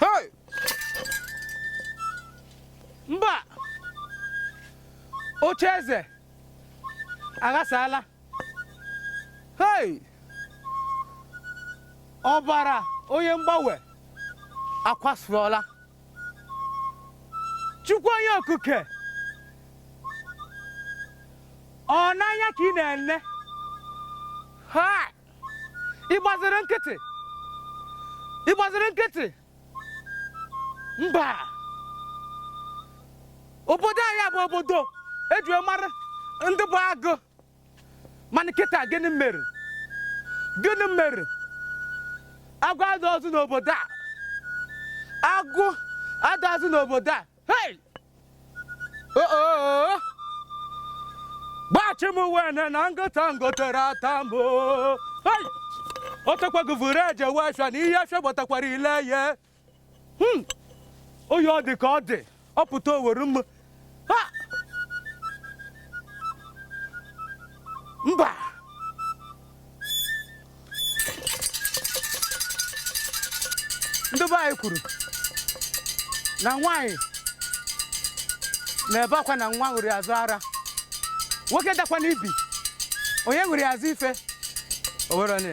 Hey! mba oche eze aghasaala hey! ọbara onye mgbanwe akwasụọla chukwu onye okike ọ n'anya ka ị na-ele ha ị gbaziri nkịtị ị gbaziri nkịtị mba obodo anyị bụ obodo e ji mara ndị bụ agụ mana kịta gịnị mere gịnị mere agụ adịrọzị n'obodo a agụ adị ọzọ n'obodo a Hey! Oh, oh, oh. gbachi m wene na nkụta m gotere ata m o. Hey! o tekwago vuru eje we afịa na ihe afịa gbatakwara ile ya Hmm. oyi ọ dị ka ọ dị ọ pụta owere m Ha! mba ndị be anyị kwuru na nwaanyị na-ebe akwa na nwa ṅụrụ azụ ara nwoke dakwanụ ibi onye ṅụrụ ya azụ ife o were onye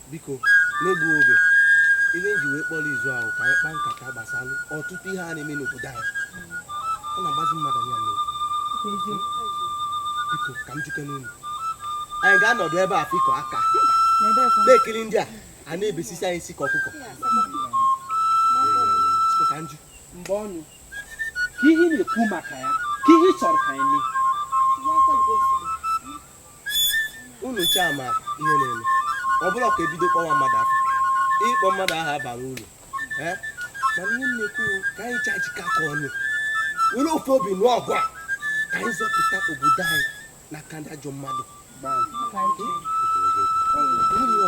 biko n'egbughị oge ihe m ji wee kpọọ izu a bụ ka anyị kpaa nkata gbasara ọtụtụ ihe a na-eme n'obodo anyị ọ na-agbazi mmadụ anya n'obi biko ka m jụkene unu anyị ga-anọdụ ebe a fikọ aka na-ekiri ndị a a na-ebesisi anyị isi ka ọkụkọ ka m jụọ mgbe ọnụ ka ị na-ekwu maka ya ka ị chọrọ ka anyị mee unu ncha ma ihe na-eme ọ bụrọ ka e bido kpọwa mmadụ afa ịkpọ mmadụ aha abarọ uru eh? mana ihe m na-ekwu ka anyị ncha jikọọ aka ọnụ were ofu obi nụọ ọgụ a ka anyị zọpụta obodo anyị n'aka ndị ajọ mmadụ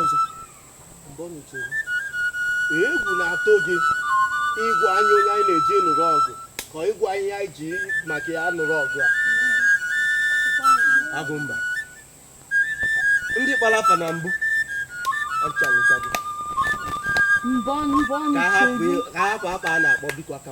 ọzọ egwu na-atụ gị ịgwa anyị onye anyị na-eji nụrụ ọgụ ka ịgwa ihe anyị ji maka ya nụrụ ọgụ a Agụmba ndị kpara afa na mbụ ka hapụ akpa a na-akpọ biko aka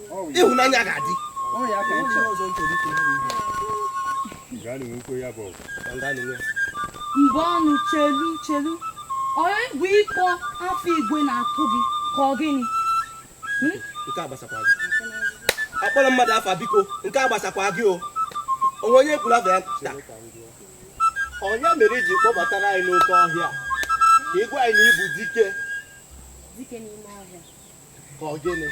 ịhụnanya ga-adị mgbe ọnụ chelu chelu onye bụ ịkpọ afa igwe na-atụ gị ka ọ gịnị hmm? nke a gbasakwa gị akpọrọ mmadụ afa biko nke a gbasakwa gị o o nwee onye kwuru afa ya taa ọ ya mere iji kpọbatara anyị n'oke ọhịa ka ịgwa anyị na ịbụ dike ka ọ gịnị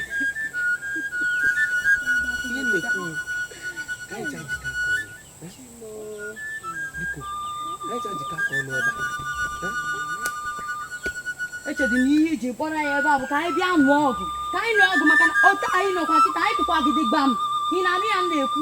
echedị na ihe iji kpọrọ ya ebe a bụ ka anyị bịa nụọ ọgụ ka anyị nụọ ọgụ maka na otu anyị nọkwa nkịtị anyị kụkwa gidi gbam ị na-anụ ihe m na-ekwu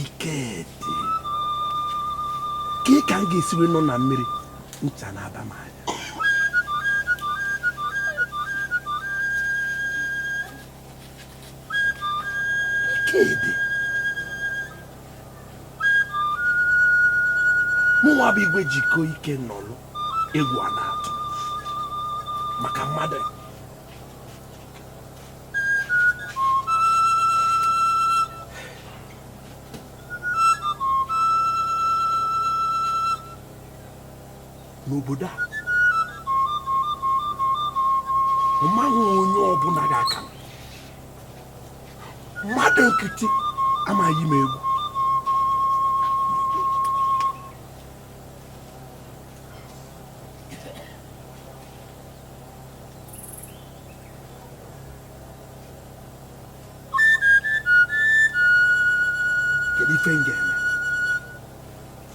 Ikedi ka ka m ga-esi wee nọ na mmiri ncha na-aba m anya Ikedi mụnwa bụ igwe jikọ ike nọlụ egwu a na-atụ maka mmadụ n'obodo a ọ maghị onye ọbụla ga-aka mmadụ nkịtị ama eyi m egwu kedu ife m ga-eme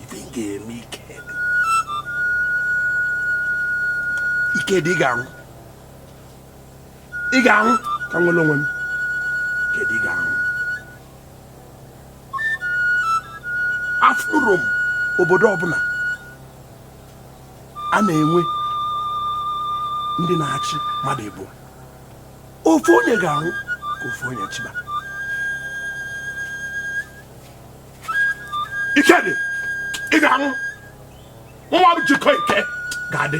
ife m ga-eme Ikedi Ikedi ị ga-anwụ ị ga-anwụ ka m nwere onwe m Ikedi ị ga-anwụ afụrọ m obodo ọbụla a na-enwe ndị na-achị mmadụ ịbụọ ofu onye ga-anwụ ka ofu onye chịba Ikedi ị ga-anwụ mụnwa jikọ ike ga-adị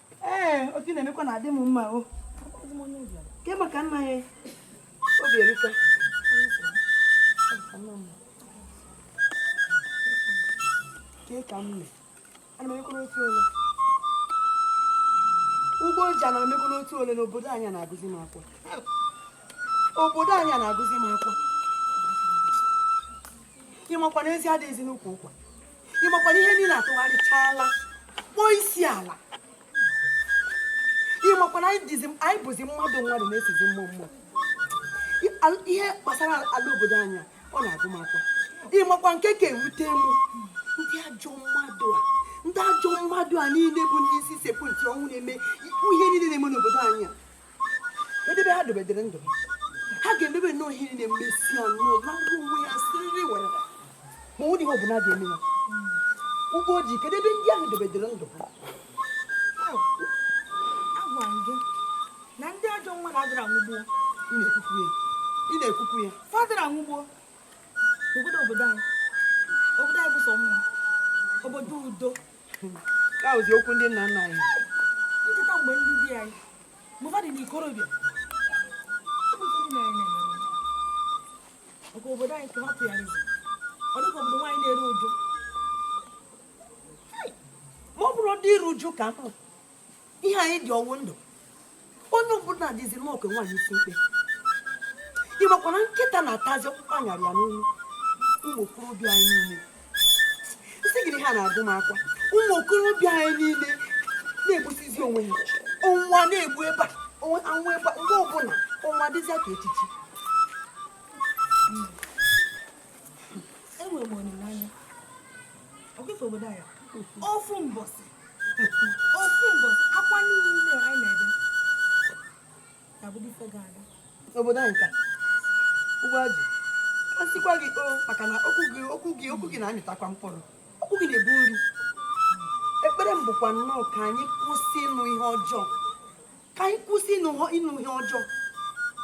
ee otu ị na-emekwa na adị m mma o ke maka nna ya Obierika ke ka m mee ana m emekwa n'otu ole ugbo ji ana m emekwa n'otu ole n'obodo anyị a na-agụzi m akwa obodo anyị a na-agụzi m akwa ị makwa na ezi adịghịzi n'ukwu ụkwa ị makwa na ihe niile atụgharịchaala kpọọ isi ala ị makwa na anyị dịzi anyị bụzi mmadụ mmadụ na-esizi mmụọ mmụọ I- al- ihe gbasara ala obodo anyị a, ọ na-agụ m akwa ị makwa nke ka ewute m ndị ajọ mmadụ a ndị ajọ mmadụ a niile bụ ndị isi sekpụ ntị ọnwụ na-eme ikwu ihe niile na-eme n'obodo anyị a kedu ebe ha dobedere ndụ ha ga-emebe nnọọ ihe niile mesịa nnọọ na ngwa onwe ya siriri werere ma o nwerọ ihe ọbụla ga-eme ya ụgbọ ojii kedu ebe ndị ahụ dobedere ndụ ha agwa m gị na ndị ajọ nwa adịrọ anwụ gboo ị na-ekwukwu ya ị na-ekwukwu ya fa adịrọ anwụ gboo obodo obodo anyị obodo anyị bụ sọ mma obodo udo ka ọ bụzi okwu ndị nna nna anyị m cheta mgbe ndị di anyị mgbe dị n'ikorobịa maka obodo anyị ka ha tụgharịzi ọ dịka obodo nwaanyị na-eru uju ma ọ bụrụ ndị iru uju ka m ihe anyị dị ọ wụ ndụ onye ọbụla dịziri m ka nwaanyị isi mkpe ị makwa na nkịta na-atazi ọkpụkpụ a nyara ya n'olu ụmụ okorobịa anyị niile m sị gị na ihe a na-agụ m akwa ụmụ okorobịa anyị niile na-egbusizi onwe ha ọnwụ na-egbu ebe a onwe- anwụ ebe a mgbe ọbụla ọnwụ adịzị ka echichi enwere m olileanya akụkọ obodo anyị ofu mbọsị ofu mbọsị akwa niile anyị na-ebe ga-abụzi ife gara aga obodo anyị ka ụgbọ ajị a sịkwa gị o maka na okwu gị okwu gị okwu gị na-amịtakwa mkpụrụ okwu gị na-ebu nri ekpere m bụkwa nnọọ ka anyị kwụsị ịnụ ihe ọjọọ ka anyị kwụsị ịnụ ihe- ịnụ ihe ọjọọ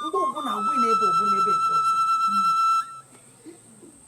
mgbe ọbụla agwụ na-ebe ọbụla ebe nke ọzọ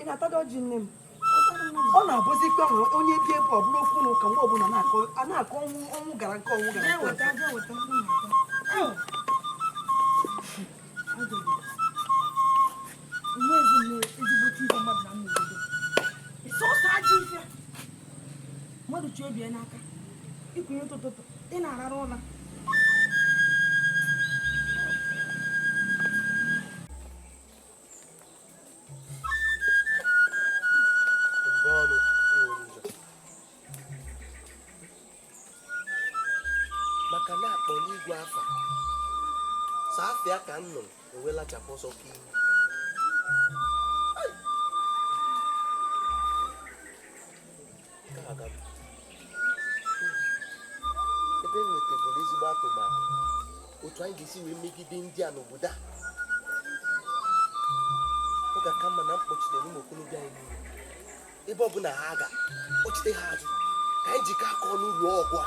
ị na-atadị ọjị nne m ọ na-abụzi ka ahụ onye bi ebe ọ bụrụ okwu na ụka mgbe ọbụla a na-akọ ọnwụ ọnwụ gara nke ọnwụ gara mmadụ chi obi ya n'aka i kunie ụtụtụ ị na-arara ụla maka na akpọ n'igwe afa saa afịa ka m nụrụ ewelachapụ ọsọ ka ihu ebe e nwetagoro ezigbo atụmatụ otu anyị ga-esi wee megide ndị a n'obodo a ọ ga-aka mma na m kpọchitere ụmụ okorobịa anyị niile ebe ọ bụla ha ga kpọchite ha azụ ka anyị jikọ aka ọnụ lụọ ọgụ a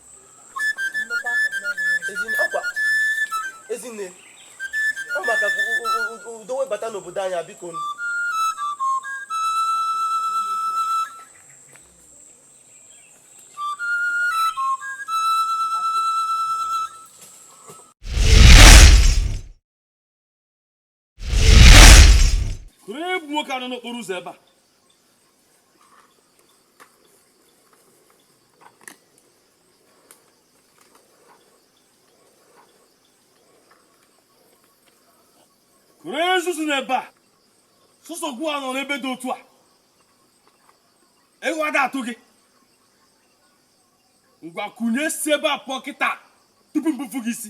ezinne ọ maka udo wee bata n'obodo anyị biko egwu nwoke a nọ n'okporo ụzọ ebe a kwụrụ ezuzu n'ebe a sọsọ gụwa nọ n'ebe dị otu a egwu ada atụ gị ngwa kunie si ebe a pụọ kịta tupu m gbupụ gị isi